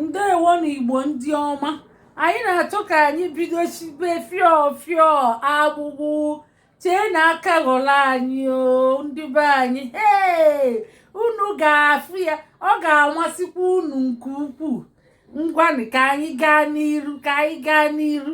ndewonu igbo ndị ọma anyị na-achọ ka anyị bido sibe fio fio agbụgbụ cheenụ aka ghọrọ anyị o ndị be anyị ee unu ga-afụ ya ọ ga-amasịkwa unu nke ukwuu ngwanụ ka anyị gaa n'iru ka anyị gaa n'iru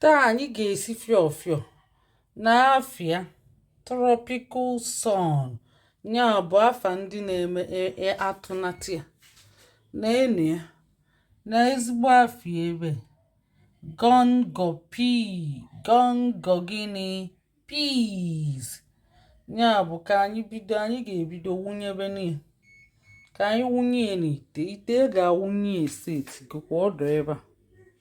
Taa anyị ga-esi fịọ fịọ n'afịa tropical sun ya bụ afa ndị na-eme e, e, atụnata ya na enu ya na ezigbo afịa ebe gungo pea gungo gịnị peas ya bụ ka anyị bido anyị ga-ebido wunyebenụ ya ka anyị wunye n'ite ite a ga-awụnye e setigokwa ọ dụ ebe a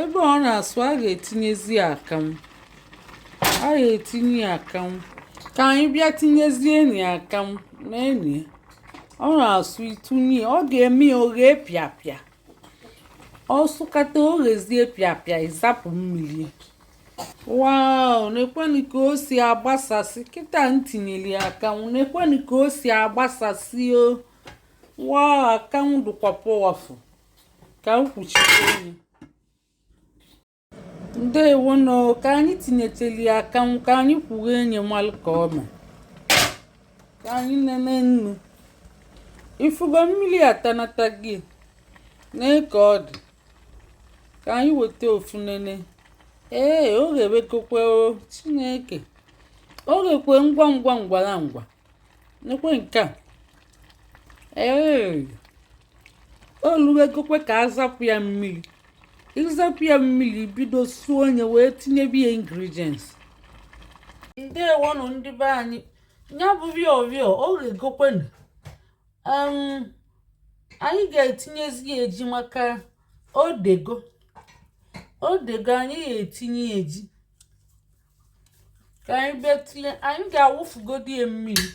ebe ọ na-asụ a ga-etinyezi akanwụ a ga-etinye ya akanwụ ka anyị bịa tinyezienụ ya akanwụ nenụ ọ na-asụ ị tụnye ọ ga-eme ya o ghee pịapịa ọ sụkata o ghezie pịapịa ị zapụ mmiri wow nekwenụ ka o si agbasasị kịta m tinyere ya akanwụ nekwenụ ka o si agbasasị o wow akanwụ dịkwa powerful ka m kwuchite ọnụ ya ndewonụ ka anyị tinyecheli ya akanwụ ka anyị kwughenụ ya malụ ka ọ mee ka anyị nenenụ i fugo mmiri atanatago nee ka ọ dị ka anyị weta ofu nene ee o ghebegokwe o chineke o ghekwe ngwa ngwa ngwara ngwa nekwe nke a ee o luwegokwe ka a zapụ ya mmiri ị zapụ ya mmiri bido suo onye wee tinyebe ya ingredients ndewonụ ndị be anyị ya bụ fio fio o ghegokwenu anyị ga-etinyezi ya ji maka o dego o dego anyị ga-etinye ya ji ka anyị betile anyị ga-awụfugodi ya mmiri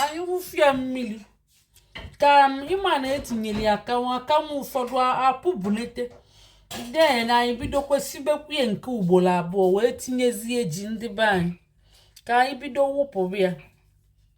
anyị wụfu ya mmiri ka um, ị ma na e tinyere ya akanwụ akanwụ ụfọdụ apụbunete then anyị bidokwa sibekwu ya nke ugboro abụọ wee tinyezie ji ndị be anyị ka anyị bido wụpụbe ya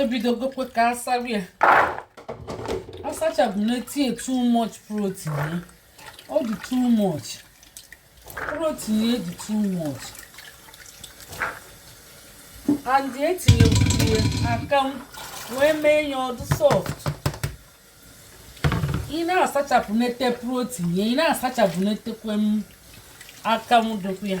ebidogokwe ka a sabe ya asachapụnete ya too much protein ya ọ dị too much protein ya dị too much and e tinyekwu ya akanwụ wee mee ya ọ dụ soft ị na-asachapụnete protein ya ị na-asachapụnetekwe em akanwụ dụkwa ya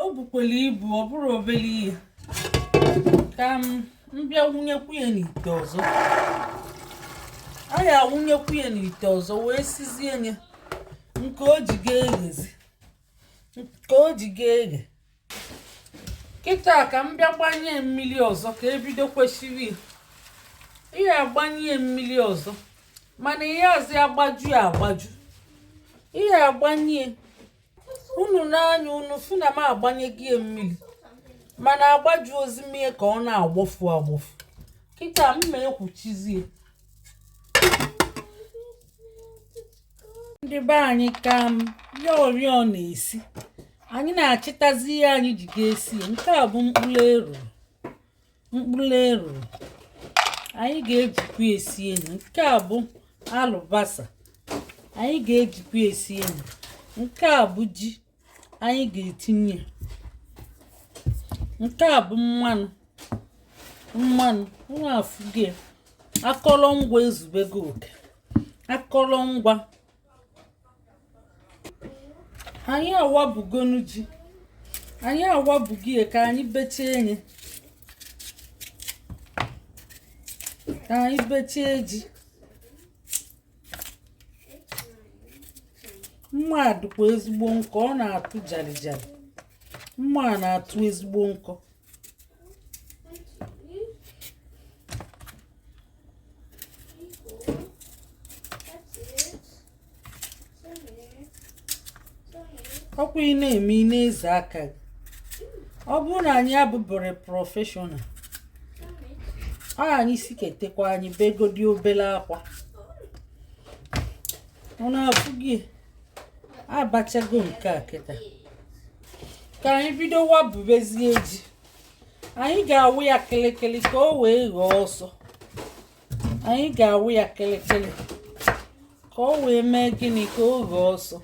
o bukwere ibu ọ bụrụ obere ihe ka m bịa wụnyekwu ya n'ite ọzọ a ya awụnyekwu ya n'ite ọzọ wee sizie ya nke o ji ga-eghezi nke o ji ga-eghe kịta ka m bịa gbanye mmiri ọzọ ka ebido kwesịrị ihe agbanye mmiri ọzọ mana ihe azị agbaju agbaju ihe agbanye unu n'anya unu fụ na m agbanyego ya mmiri mana agbajuọzị m ya ka ọ na-agbọfu agbọfu kịta m ma ekwuchizie ndị be anyị ka m ya ori ọ na-esi anyị na-achịtazi ihe anyị ji ga-esi nke a bụ mkpụrụ eru mkpụrụ eruru anyị ga-ejikwa esie nye nke a bụ alụbasa anyị ga-ejikwa esie nye nke a bụ ji anyị ga-etinye nke a bụ mmanụ mmanụ unu afụgo akọrọngwa ezubego oke akọrọngwa anyị awabugonu ji anyị awabugo ya ka anyị bechie nye ka anyị bechie ji mma a dịkwa ezigbo nkọ ọ na-atụ jarijari mma a na-atụ ezigbo nkọ ọkwa ị na-eme ị na-eze aka gị ọ bụrụ na anyị abụberọ professional ọ anyị si ketekwa anyị begodi obele ọkwa unu afụgo abachago nke a kịta ka anyị bido wabubezie ji anyị ga-awa ya kịlịkịlị ka o wee ghee ọsọ anyị ga-awa ya kịlịkịlị ka o wee mee gịnị ka o ghee ọsọ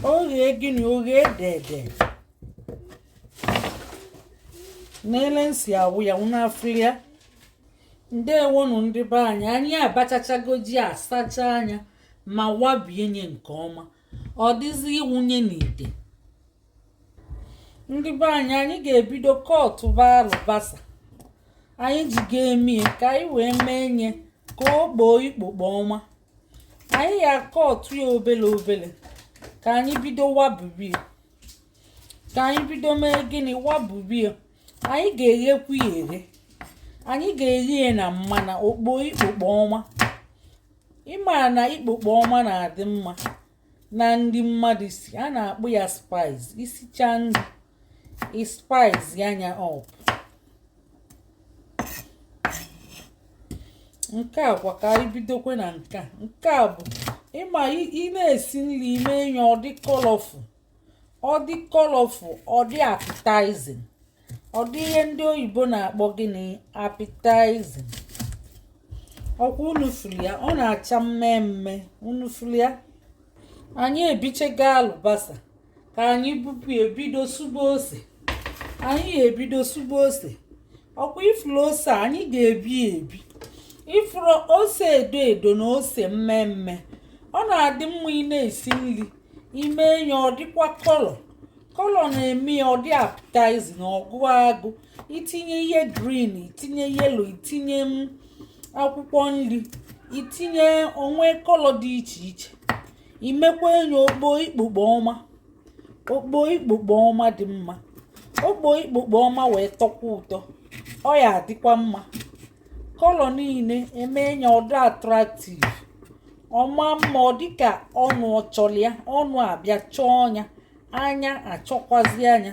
o ghee gịnị o ghee dede na-ele m si awa ya unu afụrị ya ndewonụ ndị be anyị anyị abachachago ji asachaa nya ma wabie nye nke ọma ọ dịzi ịwụnye n'ite ndị be anyị anyị ga-ebido cutba alụbasa anyị ji ga-eme ya ka anyị wee mee nye ka o kpoo ikpokpo ọma anyị ya cut ya obele obele ka anyị bido wabibie ka anyị bido mee gịnị wabubi ya anyị ga-eghekwu ya eghe anyị ga-eghe ya na mmanụ o kpo ikpokpo ọma ịma na ikpokpo ọma na-adị mma na ndị mmadụ si a na-akpọ ya spice isichaa nri spice ya nya up nke a kwa ka anyị bidokwe na nke a nke a bụ ịma ị na-esi nri i mee nye ọ dị colorful ọ dị colorful ọ dị appetizing ọ dị ihe ndị oyibo na-akpọ gịnị appetizing ọkwa unu fụrụ ya ọ na-acha mmee mmee unu fụrụ ya anyị ebichego alụbasa ka anyị bupụ ebido sụba ose anyị ebido sụba ose ọkwa ị fụrụ ose anyị ga-ebi ebi ị fụrụ ose edo edo na ose mmee mmee ọ na-adị mma ị na-esi nri i mee nye ọ dịkwa color color na-eme ya ọ dị appetizing ọ gụ agụ i tinye ihe green i tinye yellow i tinye akwụkwọ nri i tinye o nwee color dị iche iche i mekwa nye o kpo ikpokpo ọma o kpo ikpokpo ọma dị mma o kpo ikpokpo ọma wee tọkwa ụtọ ọ ya-adịkwa mma color niile emee nya ọ dị attractive ọ maa mma ọ dịka ọnụ ọ chọlụ ya ọnụ abịa chọọ nya anya achọkwazịa nya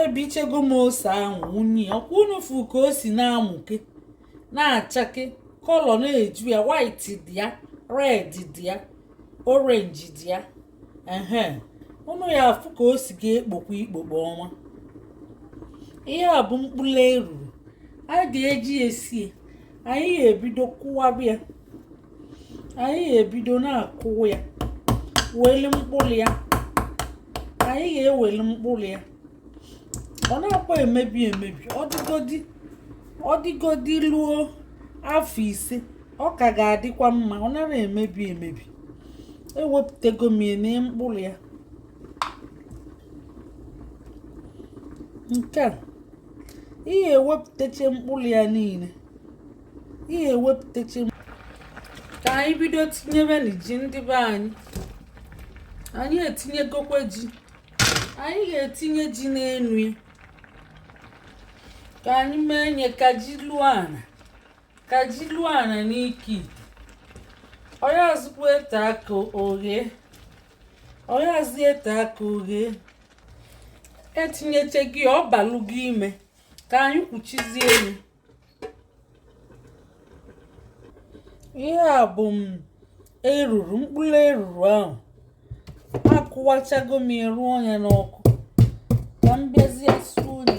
ebichego m ose ahụ wunye ya ọkwa unu fụ ka o si na-amụke na-achake color na-eju ya white dị ya red dị ya orange dị ya ehe unu ya-afụ ka o si ga-ekpokwa ikpokpo ọnwa ihe a bụ mkpụrụ eruru a ga-eji esie anyị ga-ebido kụwaba ya anyị ga-ebido na-akụ ya weli mkpụrụ ya anyị ga-eweli mkpụrụ ya ọ naakwa emebi emebi ọ dịgodi luo afọ ise ọ ka ga-adịkwa mma ọ nara emebi emebi ewepụtago m ya na mkpụrụ ya nke a ị ga-ewepụtacha mkpụrụ ya niile ị ga-ewepụtacha ka anyị bido tinyebenụ ji ndị be anyị anyị etinyegokwa ji anyị ga-etinye ji n'enu ya ka anyị mee nye ka ji luo ana ka ji luo ana n'ike ite ọ yazịkwa ete aka oghe ọ yazị ete aka oghe e tinyeche ji ọ balụ ji ime ka anyị kpuchizie enu ihe a bụ m eruru mkpụrụ eruru ahụ akụwachago m ya rụọ nya n'ọkụ ka m bịazie suo nye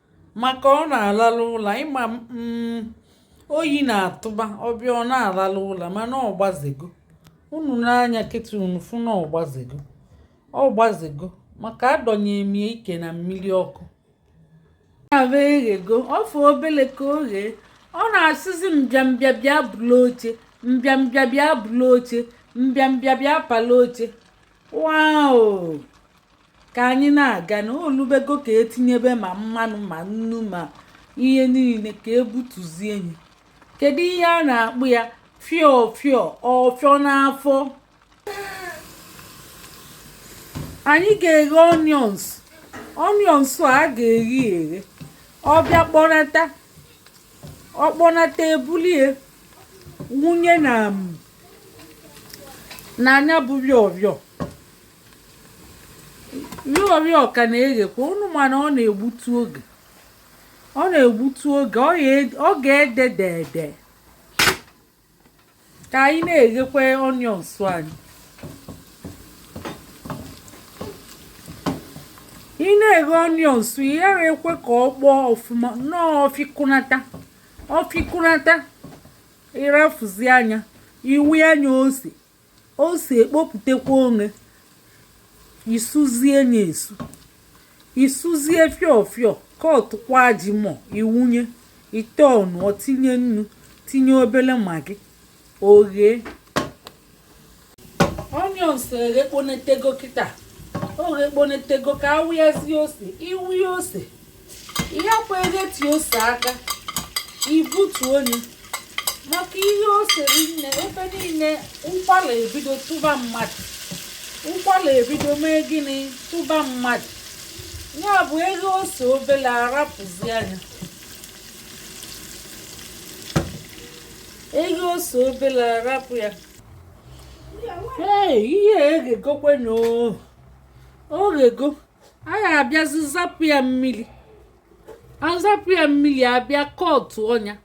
maka ọ na-alalụ ụla ị ma mm, oyi na-atụba ọ bịa ọ na-alalụ ụla mana ọ gbazego unu nee anya kịta unu fụ na ọ gbazego ọ gbazego maka adọnye m ya ike na mmili ọkụ na-abụ eghego ọ fọ obele ka o ghee ọ na-asịzi mbịambịa bịa bulu oche mbịambịa bịa bulu oche mbịambịa bịa palụ oche wao ka anyị na-aga na o lubego ka e tinyebe ma mmanụ ma nnu ma ihe niile ka e butuzie nye kedu ihe a na-akpọ ya fịọ fịọ ọfịọ n'afọ anyị ga-eghe onions onions a ga-eghe eghe ọ bịa kpọnata ọ kpọnata e bulie wunye na nya bụ fịọ fịọ yọrị ọ ka na-eghekwa unu ma na ọ na-egbutu oge ọ na-egbutu oge ọ ga-ede dede ka anyị na-eghekwa onions anyị ị na-eghe onions ị ya-ekwe ka ọ kpọọ ọfụma nnọọ ọ fịkọnata ọ fịkọnata ị rafụzịa nya ị wụa nya ose ose ekpopụtakwa onwe i suzie nye esu i suzie fịọ fịọ ka ọ tụkwa ji mọ i wunye ite ọnụ tinye nnu tinye obele Maggi o ghe onions eghekponetego kịta o ghekponetego ka a wụyazie ose ị wụya ose ihe kwa edetu ose aka i butuo nye maka i ghee ose rinne ebe niile ụkwala ebido tụba mmadụ ụkwala ebido mee gịnị tụba mmadụ ya bụ e ghee ose obele a rapụzịa nya e ghee ose obele a rapụ ya ee ihe eghegokwenụ o ghego anyị abịazi zapụ ya mmiri azapụ ya mmiri abịa kọtụọ nya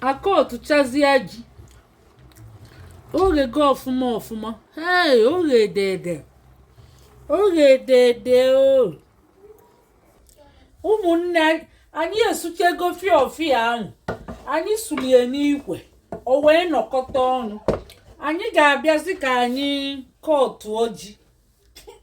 akọtụchazia ji o ghego ọfụma ọfụma ee o ghe dede o ghe dede o ụmụnne anyị esuchego fiọfiọ ahụ anyị sulie n'ikwe o wee nọkọta ọnụ anyị ga-abịazi ka anyị kọtụọ ji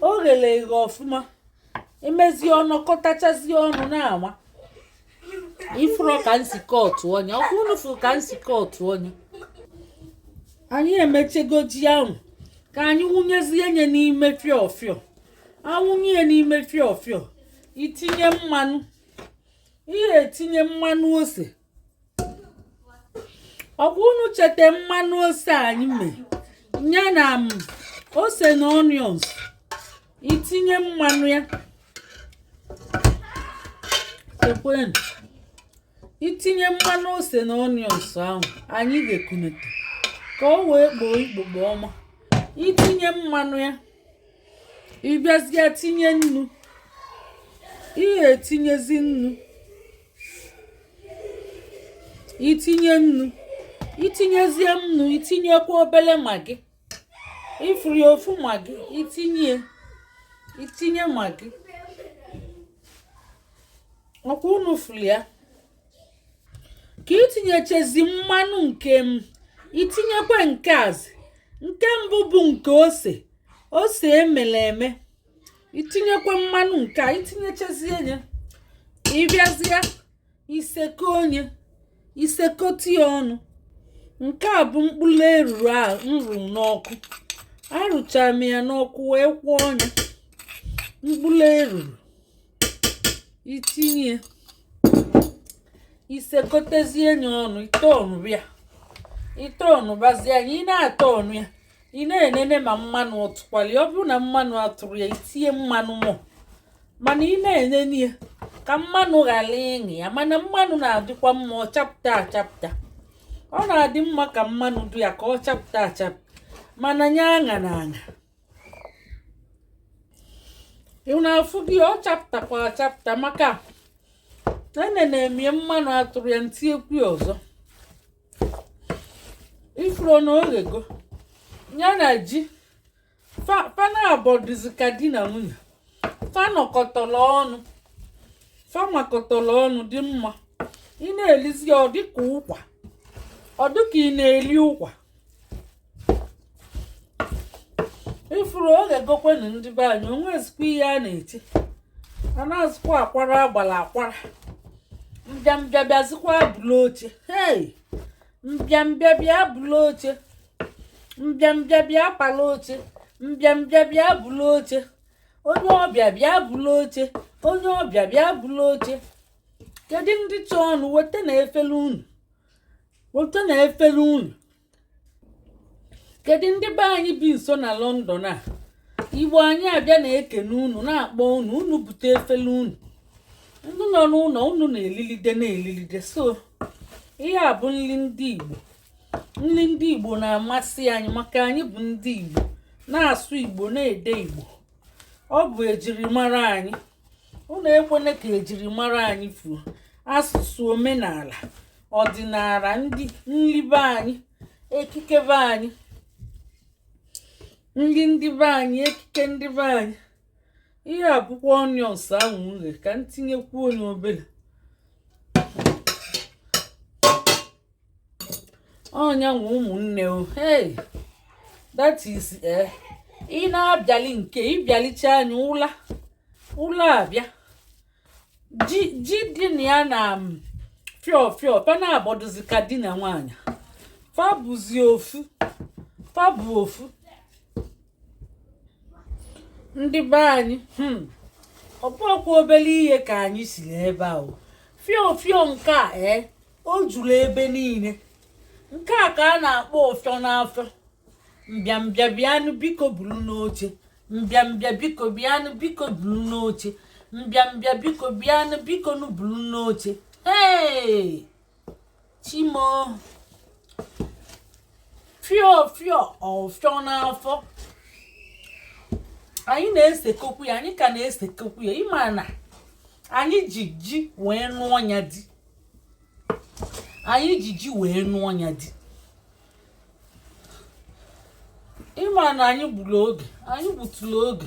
o ghere eghe ọfụma imezie ọ nọkọtachazie ọnụ na-ama ifụrụ ka m si kọtụọ nye ọkwa unu fụrụ ka m si kọtụọ nye anyị emechego ji ahụ ka anyị wụnyezie nye n'ime fiọfiọ awụnye ya n'ime fiọfiọ itinye mmanụ ihe etinye mmanụ ose ọkwa unu chete mmanụ ose anyị mee ya na ose na onions itinye mmanụ ya chekwenu itinye mmanụ ose na onions ahụ anyị ga-ekunete ka o wee kpoo ikpokpo ọma itinye mmanụ ya ịbịazie tinye nnu ihe etinyezi nnu itinye nnu itinyezie nnu itinyekwa obele magi ifuru ya ofu magi itinye itinye magi ọkwa unu furu ya ka itinyechezi mmanụ nke m itinyekwa nke a zị nke mbụ bụ nke ose ose emele eme itinyekwa mmanụ nke a itinyechazie ya ịbịazie isekọ nye isekọta ya ọnụ nke a bụ mkpụrụ eruru a m rụ n'ọkụ arụchara m ya n'ọkụ wee kwọọ nya mkpụrụ eruru itinye isekọtezie ya ọnụ ite ọnụ ya ite ọnụ bazie ya ị na-ata ọnụ ya ị na-enene ma mmanụ ọ tụkwali ọ bụrụ na mmanụ atụrụ ya itinye mmanụ more mana ị na-enene ya ka mmanụ ghara ịṅị ya mana mmanụ na-adịkwa mma ọ chapụta achapụta ọ na-adị mma ka mmanụ dị ya ka ọ chapụta achapụta mana nya aṅa na aṅa ị na-afụ gị ọ chapụtakwa achapụta maka enene m ya mmanụ atụrụ ya m tinyekwu ya ọzọ ifuru na o ghego nya na ji fa naabọ dịzi ka di na nwunye fa nọkọtara ọnụ fa makọtara ọnụ dị mma ị na-elizi ya ọ dịka ụkwa ọ dịka ị na-eli ụkwa ifuru ọ ga-egokwenu ndị be anyị o nwezikwa ihe a na-eche a na-azụkwa akwara agbara akwara mbịambịa bịazikwa bulu oche hei mbịambịa bịa bulu oche mbịambịa bịa pala oche mbịambịa bịa bulu oche onye ọbịa bịa bulu oche onye ọbịa bịa bulu oche kedu ndị chọọnụ wetanụ efere unu wetanụ efere unu kedu ndị be anyị bi nso na London a igbo anyị abịa na-ekene unu na-akpọ unu unu bute efele unu ndị nọ n'ụnọ unu na-elilide na-elilide so ihe a bụ nli ndị igbo nli ndị igbo na-amasị anyị maka anyị bụ ndị igbo na-asụ igbo na-ede igbo ọ bụ ejirimara anyị unu ekwene ka ejirimara anyị fuo asụsụ omenala ọdịnala nri be anyị ekike be anyị nri ndị be anyị ekike ndị be anyị ihe a bụkwa onions ahụ nri ka m tinyekwuo nya obele onye nwe ụmụnne o hey that is eh ị na-abịa lie nke ị bịa licha anyị ụla ụla abịa ji ji dị na ya na fịọ fịọ fa na-abụdozi ka di na nwaanyị fa bụzi ofu fa bụ ofu ndị be anyị hmm, ọ bụkwa obele ihe ka anyị siri ebe ahụ fịọ fịọ nke a ee eh, o juru ebe niile nke a ka a na-akpọ ọfịọ n'afọ mbịambịa bịanụ biko bulunu oche mbịambịa biko bịanụ biko bulunu oche mbịambịa biko bịanụ bikonụ bulunu oche ee chimo fịọ fịọ ọfịọ n'afọ anyị na-esekokwu ya anyị ka na-esekokwu ya ị ma na anyị ji ji wee nụọ ya di anyị ji ji wee nụọ ya di ị ma na anyị gbulu oge anyị gbutulu oge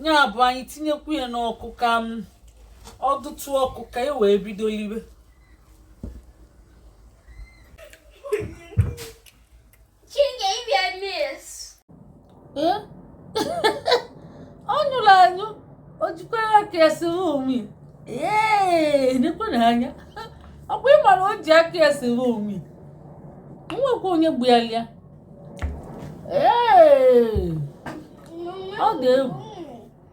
nya bụ anyị tinyekwu ya n'ọkụ ka ọ dịtụ ọkụ ka e wee bido liwe Chinga ibi amis. Eh? Ọ nyụrụ anyụ, o jikwara aka ya sịrị onwe. Ee, nekwanụ anya. Ọ bụ ị mara o ji aka ya sịrị onwe. Nwekwa onye gbu ya lịa. Ee, ọ dị egwu.